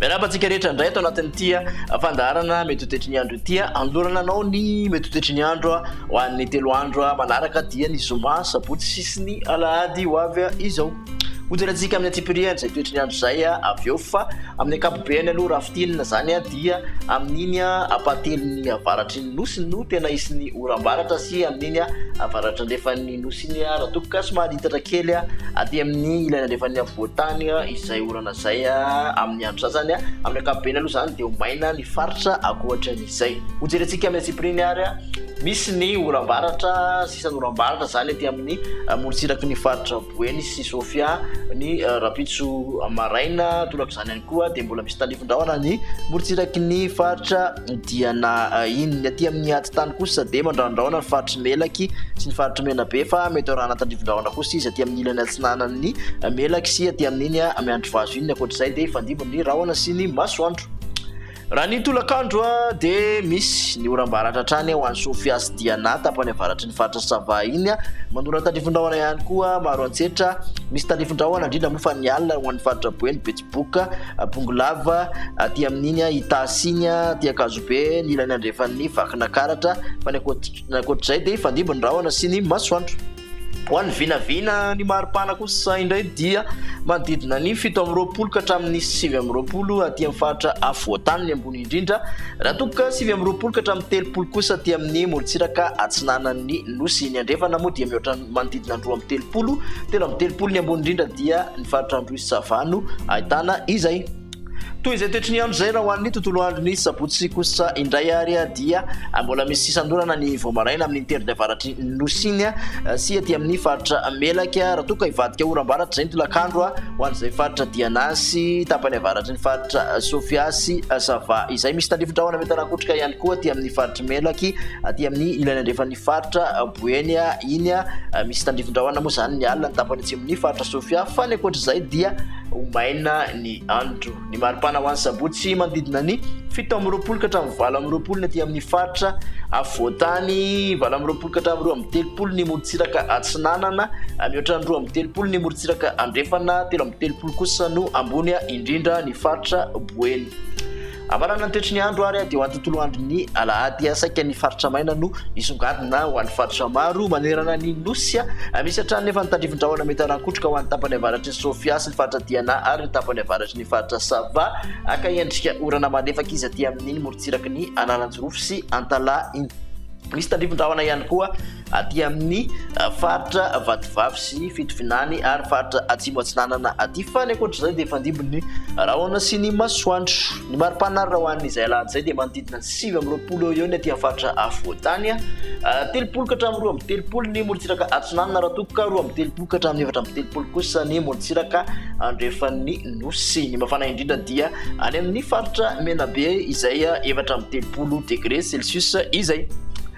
Miarahaba antsika rehetra indray ato anatin'ity ah, fandaharana mety hotetry ny andro ity. Ah. Anolorana anao ny mety hotetry ny andro ah, ho an'ny telo andro manaraka dia ny zoma, sabotsy sy ny alahady ho avy izao. Hojerentsika amin'ny antsipirihany izay toetry ny andro izay avy eo fa amin'ny ankapobeny aloha raha fintinina izany dia amin'iny ampahatelon'ny avaratry ny nosy no tena hisy ny oram-baratra sy amin'iny avaratry andrefan'ny nosy iny raha toa ka somary hitsatra kely aty amin'ny ilany andrefan'ny afovoan-tany izay orana izay amin'ny andro sasany. Amin'ny ankapobeny aloha izany dia ho maina ny faritra ankoatra an'izay. Hojerentsika amin'ny antsipirihany ary misy ny oram-baratra. Sisa norambarana izany ety amin'ny morontsiraky ny faritra Boeny sy Sofia ny rahampitso maraina. Torak'izany ihany koa dia mbola misy talivin-drahona ny morontsiraky ny faritra Diana iny. Ny aty amin'ny atitany kosa dia mandrandrahona ny faritry Melaky sy ny faritry Menabe fa mety ho rahana talivin-drahona kosa izy aty amin'ny ilany atsinanan'ny Melaky sy aty amin'iny Miandrivazo iny. Ny ankoatr'izay dia hifandimby ny rahona sy ny masoandro. Raha ny tolakandro dia misy ny oram-baratra hatrany ho any Sofia sy Diana tapany avaratry ny faritra Sava iny. Manorana tandrifin-drahona ihany koa maro antsetra. Misy tandrifin-drahona indrindra moa fa ny alina ho an'ny faritra Boeny, Betsiboka, Bongolava, aty amin'iny Itasy iny, aty Ankazobe, ny ilany andrefan'ny Vakinakaratra. Fa ny ankoatr'izay dia hifandimby ny rahona sy ny masoandro. Ho an'ny vinavina ny maripana kosa indray dia manodidina ny fito amby roapolo ka hatramin'ny sivy amby roapolo aty amin'ny faritra afovoantany ny ambony indrindra, raha toa ka sivy amby roapolo ka hatramin'ny telopolo kosa aty amin'ny morontsiraka atsinanan'ny nosy. Ny andrefana moa dia mihoatra ny manodidina ny roa amby telopolo, telo amby telopolo ny ambony indrindra dia ny faritra Androy Sava no ahitana izay. Toy izay toetry ny andro izay raha ho an'ny tontolo andron'ny sabotsy kosa indray ary dia mbola misy sisan-dorana ny vao maraina amin'ny teritra avaratry ny nosy iny sy aty amin'ny faritra Melaka raha toa ka hivadika oram-baratra izay ny tolakandro ho an'izay faritra Diana sy tapany avaratry ny faritra Sofia sy Sava izay misy tandrifin-drahona mety hanakotrika ihany koa aty amin'ny faritry Melaky aty amin'ny ilany andrefan'ny faritra Boeny iny misy tandrifin-drahona moa izany ny alina ny tapany atsimon'ny faritra Sofia fa ny ankoatr'izay dia ho maina ny andro. Ny maripana ho an'ny sabotsy manodidina ny fito amby roapolo ka hatramin'ny valo amby roapolo ny aty amin'ny faritra afovoan-tany, valo amby roapolo ka hatramin'ny roa amby telopolo ny morontsiraka atsinanana, mihoatra ny roa amby telopolo ny morontsiraka andrefana, telo amby telopolo kosa no ambony indrindra ny faritra Boeny. Havanana ny toetry ny andro ary dia ho an'ny tontolo andron'ny alahady saika ny faritra maina no hisongadina ho an'ny faritra maro manerana ny nosy. Misy hatrany nefa ny tandrifin-drahona mety hanakotroka ho an'ny tapany avaratry ny Sofia sy ny faritra Diana ary ny tapany avaratry ny faritra Sava haka endrika orana malefaka izy aty amin'iny morontsiraky ny Analanjirofo sy Antalaha iny. Misy tandrifin-drahona ihany koa. aty amin'ny faritra Vatovavy sy Fitovinany ary faritra Atsimo Atsinanana aty fa ny ankoatr'izay dia fandimbin'ny rahona sy ny masoandro. Ny mari-pana raha ho an'izay alahady izay dia manodidina ny sivy amby roapolo eo eo ny aty amin'ny faritra Afovoantany, telopolo ka hatramin'ny roa amby telopolo ny morontsiraka atsinanana raha toa ka roa amby telopolo ka hatramin'ny efatra amby telopolo kosa ny morontsiraka andrefan'ny nosy. Ny mafana indrindra dia any amin'ny faritra Menabe izay efatra amby telopolo degre celsius izay.